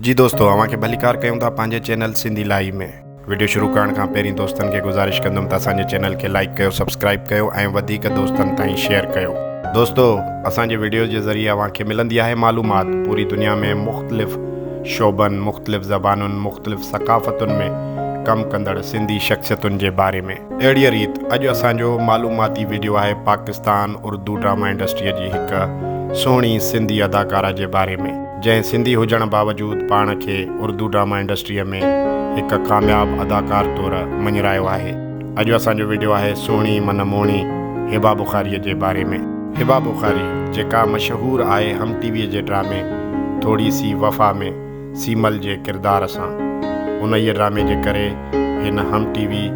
جي دوستو اوهان کي ڀليڪار ڪيون ٿا پنهنجي چينل سنڌي لائي ۾. وڊيو شروع ڪرڻ کان پهرين دوستن کي گذارش ڪندم ته اسان جي چينل کي لائيڪ ڪيو سبسڪرائيب ڪيو ۽ وڌيڪ دوستن تائين شيئر ڪيو. دوستو اسان جي وڊيوز جي ذريعي اوهان کي ملندي آهي معلومات پوري دنيا ۾ مختلف شعبن مختلف زبانن مختلف ثقافتن ۾ ڪم ڪندڙ سنڌي شخصيتن جي باري ۾. اهڙيء ريت اڄ اسان جو معلوماتي وڊيو آهي پاڪستان اردو ڊراما انڊسٽريء جي هڪ سهڻي سنڌي اداڪارا جي باري ۾. جنهن سنڌي هجڻ باوجود پاڻ کي اردو ڊراما انڊسٽريء ۾ هڪ ڪامياب اداڪار طور مڃرايو آهي. اڄ اسان جو وڊيو آهي سهڻي من موهڻي هبا بخاريء جي باري ۾. هبا بخاري جيڪا مشهور آهي هم ٽي ويء جي ڊرامي ٿوڙي سي وفا ۾ سيمل جي ڪردار سان. انهيء ڊرامي جي ڪري هن Hum T V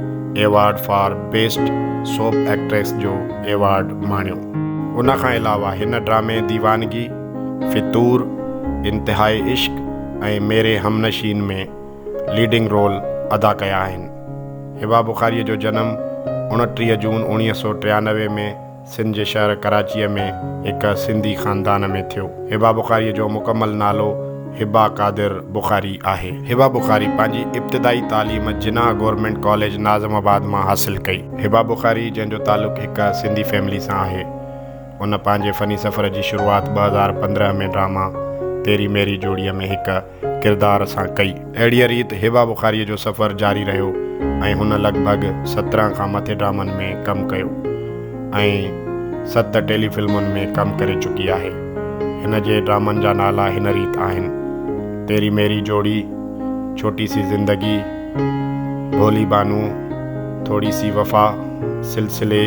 award for best soap actress جو ايوارڊ ماڻيو. ان کان علاوه هن ڊرامي ديوانگي فتور، انتهائي عشق ۽ ميري همنشين ۾ ليڊنگ رول ادا ڪيا آهن. هبه بخاريء جو جنم اڻٽيهه جون اوڻيهه سؤ ٽيانوي ۾ سنڌ جي شهر ڪراچيء ۾ هڪ سنڌي خاندان ۾ ٿيو. هبه بخاريء جو مڪمل نالو هبه قادر بخاري آهي. هبه بخاري پنهنجي ابتدائي تعليم Jinnah government college Nazimabad مان حاصل ڪئي. هبه بخاري جنهن جو تعلق هڪ سنڌي فيملي سان آهي. هن پنهنجي فني سفر جي شروعات ٻه هزار پندرهن ۾ ڊراما تيري ميري جوڙيء ۾ هڪ ڪردار سان ڪئي. اهڙيء ريت هبه بخاريء جو سفر جاري رهيو ۽ هن لڳ ڀڳ سترهن کان مٿي ڊرامن ۾ ڪم ڪيو ۽ ست ٽيلي فلمن ۾ ڪم ڪري چڪي آهي. هن جي ڊرامن جا نالا هن ريت آهن، تيري ميري جوڙي، ڇوٽي سي زندگي، ڀولي بانو، ٿوڙي سي وفا، سلسلي،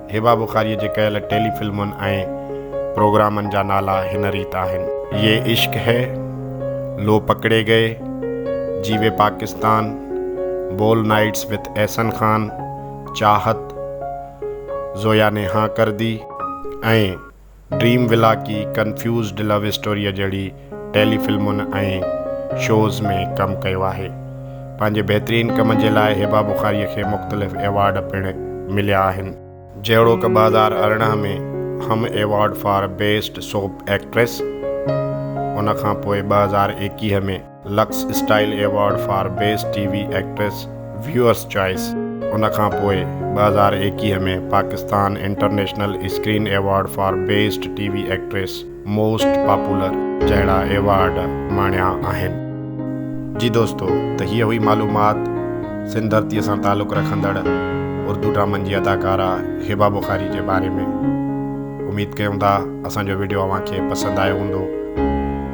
هبه بخاريء جي ڪيل ٽيلي فلمن ۽ پروگرامن جا نالا هن ريت آهن. يي عشق هي، لو پڪڙي گئي، جيوي پاڪستان، بول نائٽس وٿ احسن خان، چاهت، زويا ني هان ڪردي، ۽ ڊريم ولا ڪي ڪنفيوزڊ لو اسٽوريء جهڙي ٽيلي فلمن ۽ شوز ۾ ڪم ڪيو آهي. پنهنجي بهترين ڪم جي لاء هبه بخاريء کي مختلف ايوارڊ پڻ مليا آهن. جهڙوڪ ٻه هزار ارڙهن ۾ Hum award for best soap actress, ان کان پوء ٻه هزار ايڪيهه ۾ Lux style award for best T V actress viewers choice ان کان پوء ٻه هزار ايڪيهه ۾ Pakistan international screen award for best T V actress most popular جهڙا ايوارڊ ماڻيا آهن. جي دوستو ته هيء هئي معلومات سنڌ ڌرتيء سان تعلق رکندڙ اردو ڊرامن جي اداڪاره هبه بخاري جي باري ۾ اميد ڪيون ٿا اسان جو وڊيو اوهان کي پسند آيو هوندو.